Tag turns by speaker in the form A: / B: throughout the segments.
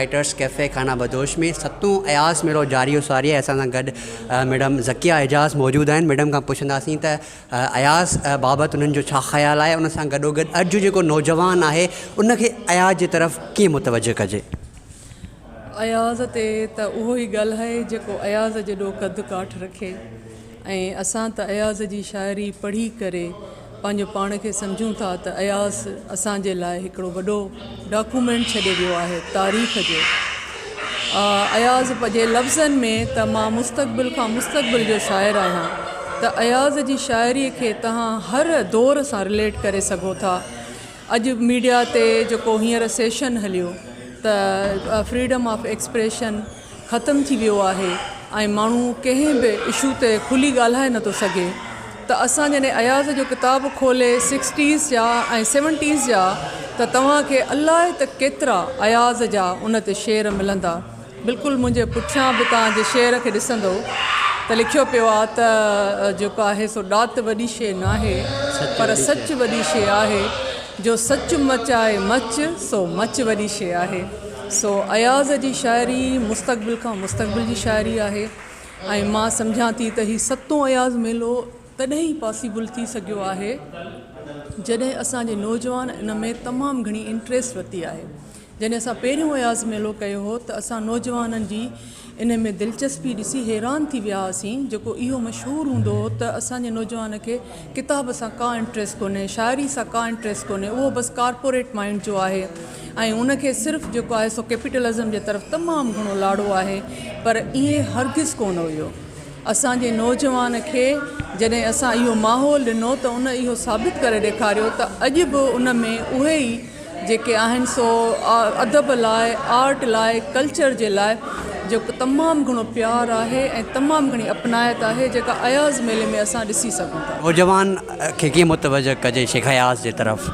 A: Writers cafe Khana Badosh ۾ ستون اياز ميڙو جاري و ساري احسان سان گڏ ميڊم ذڪيه اعجاز موجود آهن ميڊم کان پڇنداسين ته اياز بابت انهن جو ڇا خيال آهي؟ ان سان گڏوگڏ اڄ جو جيڪو نوجوان آهي ان کي اياز جي طرف ڪيئن متوجهه ڪجي؟
B: اياز تي ته اهو ئي ڳالهائي جيڪو اياز جيڏو قد ڪاٺ رکي ۽ اسان ته اياز جي شاعري پڙهي ڪري پنهنجو پاڻ کي سمجهون ٿا ته اياز اسان جي لاء هڪڙو وڏو ڊاڪومينٽ ڇڏي ويو آهي تاريخ جو. اياز پنهنجي لفظن ۾ ته مان مستقبل کان مستقبل جو شاعر آهيان ته اياز جي شاعري کي تهان هر دور سان رليٽ ڪري سگهو ٿا اڄ ميڊيا تي جيڪو هينئر سيشن هليو ته فريڊم آف ايڪسپريشن ختم ٿي ويو آهي ۽ ماڻهو ڪنهن به اشو تي کلي ڳالهائي نه ٿو سگهي ته اسان جڏهن اياز جو ڪتاب کولي سڪسٽيز جا ۽ سيونٽيز جا ته توهان کي الائي ته ڪيترا اياز جا ان تي شعر ملندا بلڪل منهنجي پٺيان به توهان جي شعر کي ڏسندو ته لکيو پيو آهي ته جيڪو آهي سو ڏات وڏي شي ناهي پر سچ وڏي شي آهي جو سچ مچ آهي مچ سو مچ وڏي شي آهي. سو اياز جي شاعري مستقبل کان مستقبل جي شاعري آهي ۽ مان سمجهان ٿي ته هي ستون اياز ميلو تڏهن ئي پاسيبل ٿي سگهيو آهي جڏهن اسان جي نوجوان ان ۾ تمام گهڻي انٽريسٽ ورتي آهي جڏهن اسان پهريون اياز ميلو ڪيو هو ته اسان نوجوانن جي انهي ۾ دلچسپي ڏسي حيران ٿي ويا هئاسين جيڪو اهو مشهور هوندو هو ته اسان جي نوجوان کي ڪتاب سان ڪا انٽريس ڪونهي شاعري سان ڪا انٽريس ڪونهي اهو بس ڪارپوريٽ مائينڊ جو آهي ۽ ان کي صرف جيڪو آهي سو ڪيپيٽلزم جي طرف تمام گهڻو لاڙو آهي پر اهي هرگز ڪونه هيو اسان جي نوجوان کي جڏهن اسان اهو ماحول ڏنو ته ان اهو ثابت ڪري ڏيکاريو ته اڄ به ان ۾ اهي ئي جيڪي آهن سو ادب لاء آرٽ لاء ڪلچر جي لاء جيڪو تمام گهڻو پيار آهي ۽ تمام گهڻي اپنائت آهي جيڪا اياز ميلي ۾ اسان ڏسي سگهون ٿا. نوجوان کي
A: ڪيئن متوجه ڪجي شيخ اياز جي طرف؟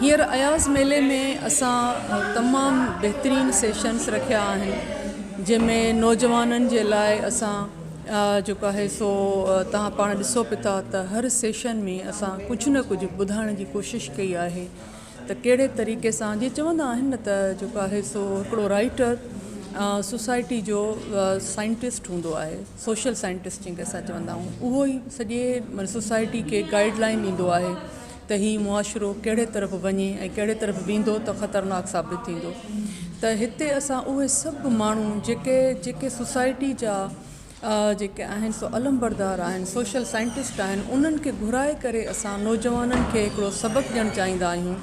B: هينئر اياز ميلي ۾ اسان تمام بهترين سيشنس رکيا آهن جنهن ۾ نوجوانن جي لاء اسان جيڪو آهي سو تهان پاڻ ڏسو به ٿا ته هر سيشن ۾ اسان ڪجهه نه ڪجهه ٻڌائڻ جي ڪوشش ڪئي آهي ته ڪهڙي طريقي سان جي چوندا آهن نه ته جيڪو آهي سو هڪڙو رائيٽر سوسائٽي جو سائنٽسٽ هوندو آهي سوشل سائنٽسٽ جنهن کي اسان چوندا آهيون اهو ئي سڄي سوسائٽي کي گائيڊ لائين ڏيندو آهي ته هي معاشرو ڪهڙي طرف وڃي ۽ ڪهڙي طرف ويندو ته خطرناڪ ثابت ٿيندو ته هتي اسان اهي سڀ ماڻهو جيڪي جيڪي سوسائٽي جا جيڪي آهن سو علمبردار آهن سوشل سائنٽسٽ آهن انهن کي گهرائي ڪري اسان نوجوانن کي هڪڙو سبق ڏيڻ چاهيندا آهيون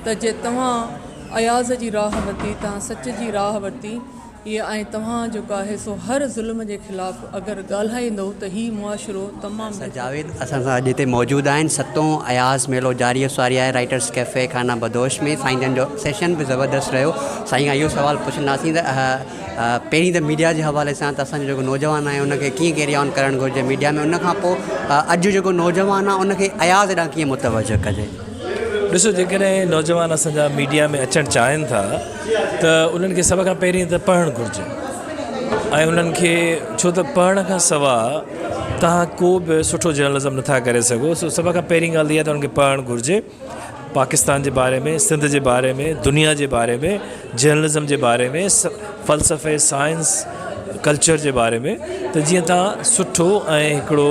B: ته جي توهان اياز جي راهه ورتي توهان سچ جي راهه ورتي اهي ۽ توهان جو ڪا حصو هر ظلم جي خلاف اگر ڳالهائيندو ته هي معاشرو تمام بهتر جاويد اسان سان اڄ
A: هتي موجود آهن ستون اياز ميلو جاري و ساري آهي رائيٽرس ڪيفي خانه بدوش ۾ سائين جن جو سيشن به زبردست رهيو سائين کان اهو سوال پڇنداسين ته پهرين ته ميڊيا جي حوالي سان ته اسان جو جيڪو نوجوان آهي ان کي ڪيئن ڪيري آن ڪرڻ گهرجي ميڊيا ۾ ان کان پوء اڄ جيڪو نوجوان آهي ان کي اياز ڏانهن ڪيئن متوجه ڪجي ڏسو
C: جيڪڏهن نوجوان اسان جا ميڊيا ۾ اچڻ چاهين ٿا ته انهن کي سڀ کان پهرين ته پڙهڻ گهرجي ۽ انهن کي ڇو ته پڙهڻ کان سوا توهان ڪو به سٺو جرنلزم نٿا ڪري سگهو سو سڀ کان پهرين ڳالهه اها ته انهن کي پڙهڻ گهرجي پاڪستان جي باري ۾ سنڌ جي باري ۾ دنيا جي باري ۾ جرنلزم جي باري ۾ فلسفي سائنس ڪلچر جي باري ۾ ته جيئن تان سٺو ۽ هڪڙو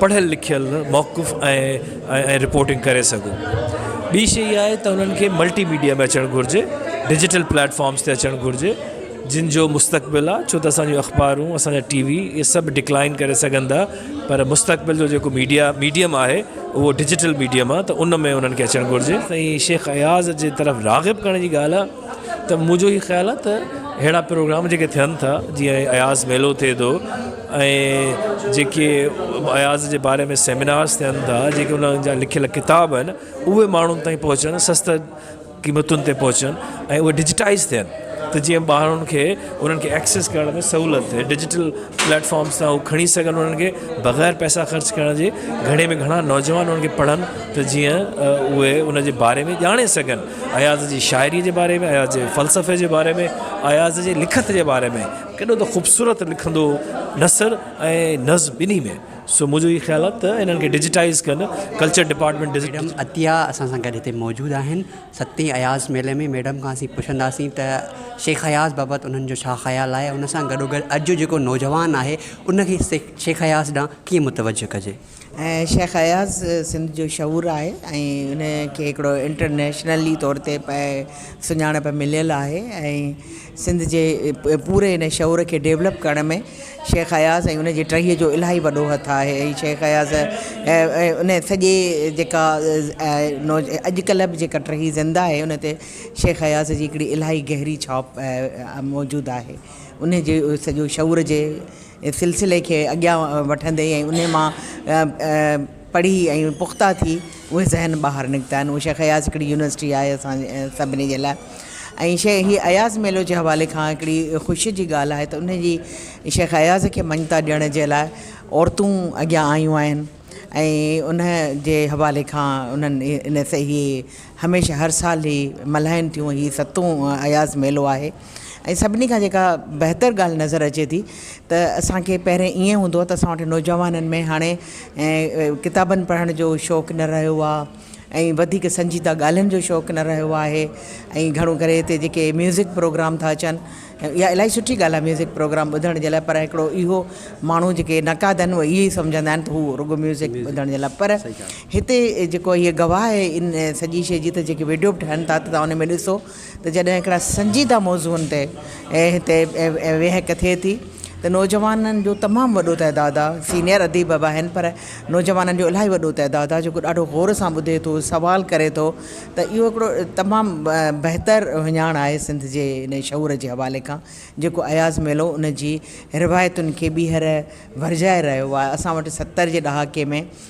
C: پڙهيل لکيل موقف ۽ رپورٽنگ ڪري سگهو ٻي شي اها آهي ته انهن کي ملٽي ميڊيا ۾ اچڻ گهرجي ڊجيٽل پليٽفارمس تي اچڻ گهرجي جن جو مستقبل آهي ڇو ته اسانجو اخبارون اسانجا ٽي وي اهي سڀ ڊڪلائن ڪري سگهن ٿا پر مستقبل جو جيڪو ميڊيا ميڊيم آهي اهو ڊجيٽل ميڊيم آهي ته ان ۾ انهن کي اچڻ گهرجي. سائين شيخ اياز جي طرف راغب ڪرڻ جي ڳالهه آهي ته منهنجو هي خيال آهي ته اهڙا پروگرام جيڪي ٿين ٿا جيئن اياز ميلو ٿئي ٿو ۽ جيڪي اياز جي باري ۾ سيمينارز ٿين ٿا جيڪي انهن جا لکيل ڪتاب آهن اهي ماڻهن تائين پهچن سست قيمتن تي پهچن ۽ اهي ڊجيٽائيز ٿين ته جيئن ماڻهن کي انهن کي ايڪسيس ڪرڻ ۾ سهولت ٿئي ڊجيٽل پليٽ فارمز تان هو کڻي سگهن انهن کي بغير پئسا خرچ ڪرڻ جي گهڻي ۾ گهڻا نوجوان انهن کي پڙهن ته جيئن اهي ان جي باري ۾ ڄاڻي سگهن اياز جي شاعري جي باري ۾ اياز جي فلسفي جي باري ۾ اياز جي لکت جي باري ۾ ڪيڏو ته خوبصورت لکندو هو نثر ۽ نظم ٻنهي ۾ سو منهنجو اهي خيال آهي ته انهن کي ڊجيٽائيز ڪن culture department digit. Madam Atiya
A: اسان سان گڏ هتي موجود آهن ستين اياز ميلي ۾ ميڊم کان اسين پڇنداسين ته شيخ اياز بابت انهن جو ڇا خيال آهي ان سان گڏو گڏ اڄ جيڪو نوجوان آهي ان کي شيخ اياز ڏانهن ڪيئن متوجه ڪجي. شيخ
D: اياز سنڌ جو شعور آهي ۽ ان کي هڪڙو انٽرنيشنلي طور تي پئي سڃاڻپ مليل آهي ۽ سنڌ جي پوري ان شعور کي ڊيولپ ڪرڻ ۾ شيخ اياز ۽ ان جي ٽهيء جو الاهي وڏو هٿ آهي ۽ شيخ اياز ان سڄي جيڪا اڄڪلهه به جيڪا ٽهي زنده آهي ان تي شيخ اياز جي هڪڙي الاهي گهري ڇاپ موجود آهي ان جي سڄو شعور جي سلسلي کي اڳيان وٺندي ۽ ان مان پڙهي ۽ پختا ٿي اهي ذهن ٻاهر نڪتا آهن اهو شيخ اياز هڪڙي يونيورسٽي آهي اسان سڀني جي لاء ۽ شيء هي اياز ميلو جي حوالي کان هڪڙي خوشي جي ڳالهه آهي ته ان جي شيخ اياز کي مڃتا ڏيڻ جي لاء عورتون اڳيان آيون آهن ۽ ان جي حوالي کان انهن ان سهي هميشه هر سال هي ملهائن ٿيون هي ستون اياز ميلو آهي ۽ سڀني کان جيڪا بهتر ڳالهه نظر اچي ٿي ته اسان کي پهرين ائين هوندو هو ته اسان وٽ نوجوانن ۾ هاڻي ڪتابن پڙهڻ جو شوق نه رهيو آهي ۽ وڌيڪ سنجيده ڳالهين جو شوق نه رهيو آهي ۽ گهڻو ڪري هتي جيڪي ميوزڪ پروگرام ٿا اچن يا الاهي سٺي ڳالهه آهي ميوزڪ پروگرام ٻڌڻ جي لاء پر هڪڙو اهو ماڻهو جيڪي نقاد آهن اهي ائين سمجهندا آهن ته هو رڳو ميوزڪ ٻڌڻ جي لاء پر هتي جيڪو هي گواهه آهي ان سڄي شيء جي ته جيڪي ويڊيو به ٺهن ٿا ته تون ان ۾ ڏسو ته جڏهن هڪڙا سنجيده موضوعن تي هتي ويهڪ ٿئي ٿي ته نوجوانن جو تمام وڏو تعداد آ سينئر اديب به آهن پر نوجوانن جو الاهي وڏو تعداد آ جيڪو ڏاڍو غور سان ٻڌي ٿو سوال ڪري ٿو ته اهو هڪڙو تمام بهتر هڃاڻ آهي سنڌ جي ان شعور جي حوالي کان جيڪو اياز ميلو ان جي روايتن کي ٻيهر ورجائي رهيو آ اسان وٽ ستر جي ڏهاڪي ۾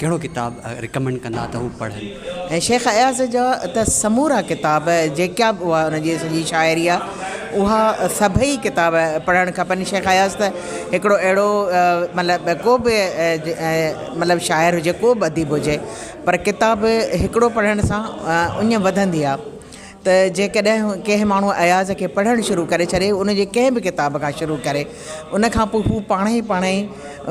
A: ڪهڙو ڪتاب رڪمينڊ ڪندا ته هو پڙهن؟ شيخ اياز
D: جا ته سمورا ڪتاب جيڪا به هئا ان جي سڄي شاعري آ اها سڀئي ڪتاب پڙهڻ کپن شيخ اياز ته هڪڙو اهڙو مطلب ڪو به مطلب شاعر هجي ڪو به اديب هجي پر ڪتاب هڪڙو پڙهڻ سان اڃ وڌندي آ ته جيڪڏهن ڪنهن ماڻهو اياز کي پڙهڻ شروع ڪري ڇڏي ان جي ڪنهن به ڪتاب کان شروع ڪري ان کان پوء هو پاڻ ئي پاڻ ئي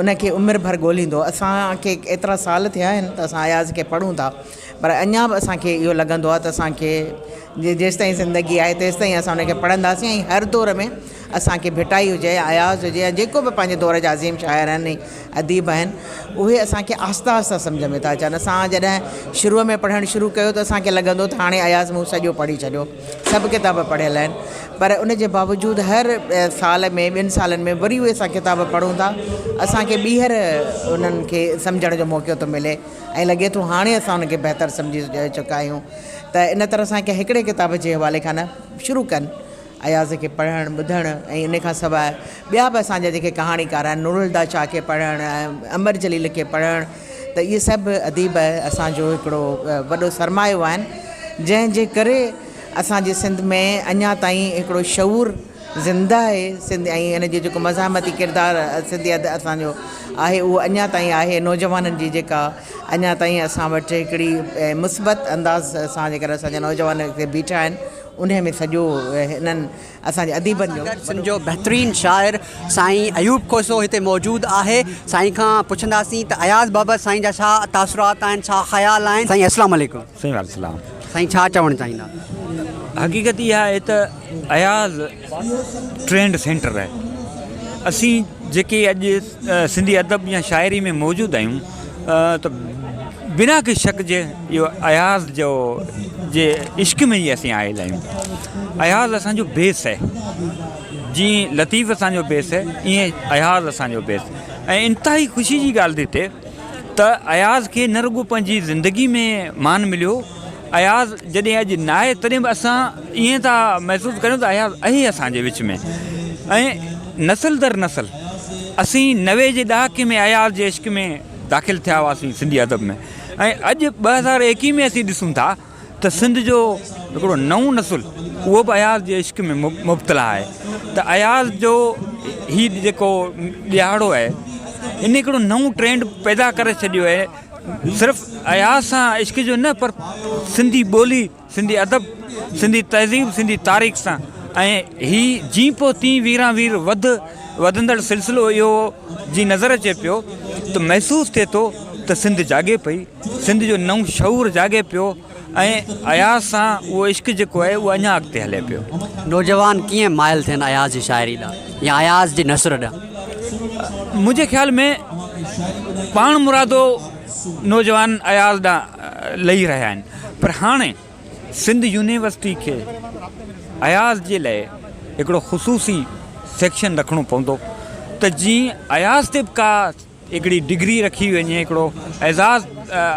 D: ان کي عمر ڀر ڳوليندو اسان کي ايترا سال ٿيا آهن ته اسان اياز کي پڙهون ٿا پر اڃا به اسان کي اهو لڳندو آهي ته اسان کي جي جيستائين زندگي آهي تيستائين اسان ان کي پڙهنداسين ۽ هر دور ۾ اسان کي ڀٽائي هجي، اياز هجي يا جيڪو به پنهنجي دور جا عظيم شاعر آهن ۽ اديب آهن اهي اسان کي آهستي آهستي سمجهه ۾ ٿا اچن. اسان جڏهن شروع ۾ پڙهڻ شروع ڪيو ته اسان کي لڳندو ته هاڻي اياز مون سڄو پڙهي ڇڏيو، سڀ ڪتاب پڙهيل آهن پر ان جي باوجود هر سال ۾ ٻن سالن ۾ وري اهي اسان ڪتاب پڙهون ٿا اسان کي ٻيهر انهن کي سمجهڻ جو موقعو ٿو ملي ۽ لڳي ٿو هاڻي اسان ان کي بهتر سمجهي چڪا آهيون ته ان طرح سان ڪنهن هڪڙي ڪتاب جي حوالي کان نه شروع ڪن اياز کي پڙهڻ، ٻڌڻ ۽ ان کان سواء ٻيا به اسان جا جيڪي ڪهاڻيڪار آهن، نورالهديٰ شاهه کي پڙهڻ ۽ امر جليل کي پڙهڻ ته اهي سڀ اديب اسان جو هڪڙو وڏو سرمايو آهن جنهن جي ڪري اسان جي سنڌ ۾ اڃا تائين هڪڙو شعور زنده آهي سنڌ ۽ ان جي جيڪو مزاحمتي ڪردار سنڌي ادب اسان جو آهي اهو اڃا تائين آهي نوجوانن جي جيڪا اڃا تائين اسان وٽ هڪڙي مثبت انداز سان جيڪر اسان جا نوجوان هتي بيٺا آهن انهيء ۾ سڄو هنن اسان جي اديبن جو. اسان سان گڏ سنڌ جو بهترين
A: شاعر سائين ايوب کوسو هتي موجود آهي. سائين کان پڇنداسين ته اياز بابت سائين جا ڇا تاثرات آهن، ڇا خيال آهن. سائين السلام عليڪم. سائين وعليڪم السلام. سائين ڇا چوڻ چاهيندا. حقيقت
E: اها آهي ته اياز. ٽرينڊ سينٽر آهي اسين جيڪي اڄ سنڌي ادب يا شاعري ۾ موجود آهيون ته بنا ڪنهن شڪ جي اهو اياز جو جي عشق ۾ ئي اسين آيل آهيون اياز اسانجو بيس آهي جي لطيف اسانجو بيس آهي ائين اياز اسانجو بيس ۽ انتهائي خوشي جي ڳالهه ته اياز کي نه رڳو پنهنجي زندگي ۾ مان مليو اياز جڏهن اڄ ناهي تڏهن به اسان ائين ٿا محسوس ڪريون ته اياز اهي اسان جي وچ ۾ ۽ نسل در نسل اسين نوي جي ڏهاڪي ۾ اياز جي عشق ۾ داخل ٿيا هئاسين سنڌي ادب ۾ ۽ اڄ ٻه هزار ايڪيهه ۾ اسين ڏسون ٿا ته سنڌ جو هڪڙو نئون نسل اهو به اياز جي عشق ۾ مبتلا آهي ته اياز جو هي جيڪو ڏهاڙو آهي هن هڪڙو نئون ٽرينڊ پيدا ڪري ڇڏيو آهي صرف اياز سان عشق جو نه پر سنڌي ٻولي، سنڌي ادب، سنڌي تهذيب، سنڌي تاريخ سان ۽ هي جين پوء تين ويران وير وڌ وڌندڙ سلسلو اهو جي نظر اچي پيو ته محسوس ٿئي ٿو ته سنڌ جاڳي پئي، سنڌ جو نئون شعور جاڳي پيو. ۽ اياز سان اهو عشق جيڪو آهي اهو اڃا اڳتي هلي پيو. نوجوان ڪيئن
A: مائل ٿين اياز جي شاعري ڏانهن يا اياز جي نثر ڏانهن؟ منهنجي خيال ۾
E: پاڻمرادو نوجوان اياز ڏانهن لهي رهيا آهن پر هاڻي سنڌ يونيورسٽي کي اياز جي لاء هڪڙو خصوصي سيڪشن رکڻو پوندو ته جيئن اياز تي به ڪا هڪڙي ڊگري رکي وڃي هڪڙو اعزاز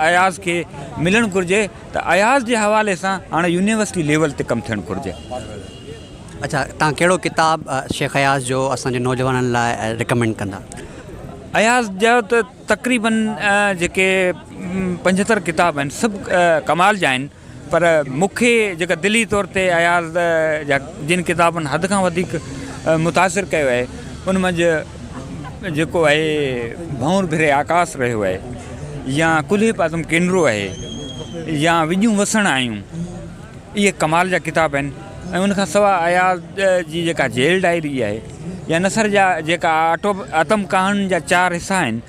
E: اياز کي ملڻ گهرجي ته اياز جي حوالي سان هاڻي يونيورسٽي ليول تي ڪم ٿيڻ گهرجي.
A: اڇا تهان ڪهڙو ڪتاب شيخ اياز جو اسان جي نوجوانن لاء ريڪمينڊ ڪندا؟ اياز
E: جا ته تقريبن جيڪي پنجهتر ڪتاب آهن سڀ ڪمال جا آهن پر مون کي جيڪا دلي طور تي اياز جا جن ڪتابن حد کان وڌيڪ متاثر ڪيو آهي ان منجهه جيڪو آهي ڀنور ڀري آڪاس رهيو آهي يا ڪلهي پاسم ڪينرو آهي يا وڄون وسڻ آيون اهي ڪمال جا ڪتاب آهن ۽ ان کان سواء اياز جي جيڪا جيل ڊائري آهي يا نثر جا جيڪا آٽو آتم ڪهاڻين جا چار حصا آهن